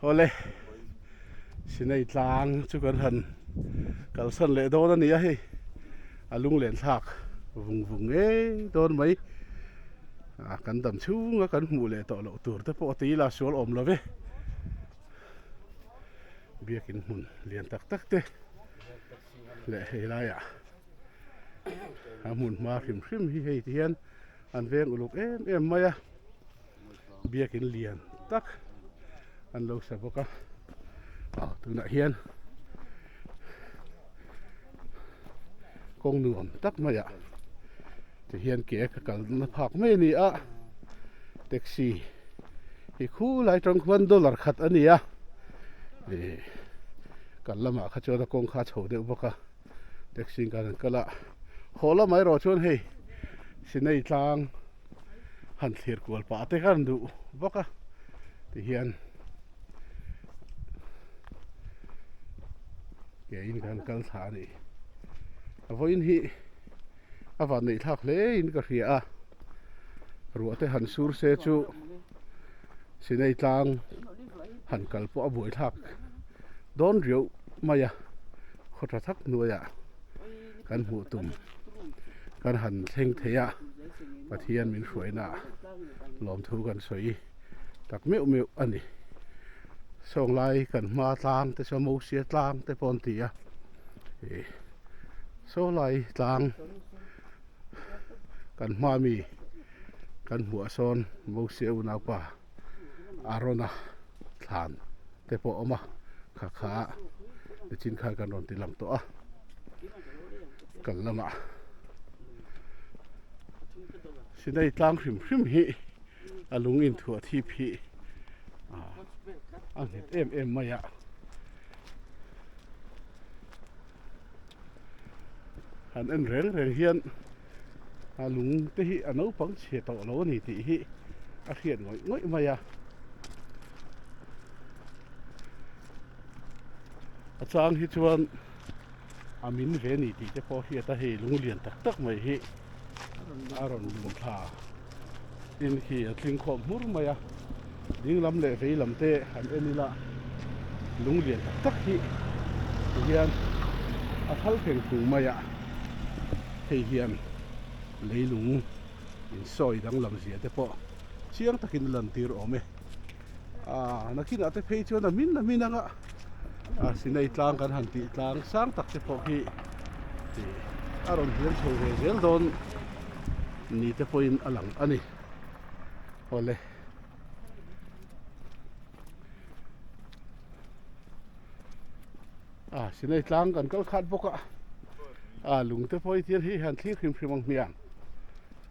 Awle sinei tlang chu kan han kalsan leh dawn a ni a hei a lunglen thlak vung vung ngei dawn mai a kan dam chhunga kan hmuh leh tawh loh tur te pawh tila sual awm lo ve biakin hmun lian tak tak te leh hei laia a hmun hma hrim hrim hi hei ti hian an veng uluk em em mai a. biakin lian tak an lo sa bawk a aw tunah hian kawng nuam tak mai ah ti hian ke ka kal na phak mai a ni a taxi hi khu lai tawng khan dollar khat a ni a ih kal lamah kha chuan a kawng kha a chho deuh bawk a. taxi in kan han kal a haw lam erawh chuan hei sinei tlang han thlir kual pah te khan duh vak a ti hian ke in kan kal thla a ni a vawiin hi a vatneih thlak hle in ka hria a ruah te han sur se chu Sinei tlang han kal pawh a buaithlak dawn riau mai a, khaw tha thak hnuaiah kan hmuh tum kan han thleng thei a, Pathian min hruainah lawmthu kan sawi tak meuh meuh a ni. Sawnglai kan hma tlang te saw Mosia tlang te pawh an ti a, Sawnglai tlang, kan hma mi kan hmuh a sawn Mosia unau pa Arona thlan te pawh a awm a kha kha ah nichin khan kan rawn ti lang tawh a kan lamah Sinai tlang hrim hrim hi a lung in thuah thip hi a nghet em em mai a. han en reng reng hian a lung te hi a naupang chhe tawh lo a ni tih hi a hriat ngawih ngawih mai a a chang hi chuan a min ve ni tih te pawh hriat a hei lung lian tak tak mai hi a rawn lun thla in hi a tling khawm hmur mai a, ding lam leh vei lam te an en ila lung lian tak tak hi ti hian a thal theng thung mai a, hei hian leilung in sawi dang lam zia te pawh chiang takin a lan tir awm e. a nakinah te phei chuan a hmin a hmin anga a sinei tlang kan han tih tlang sang tak te pawh hi a rawn hiam chho ve zel dawn ni te pawhin a lang a ni awle a sinei tlang kan kal khat bawk a a lung te pawh hi chian hei han thlir hrim hrim ang hmiang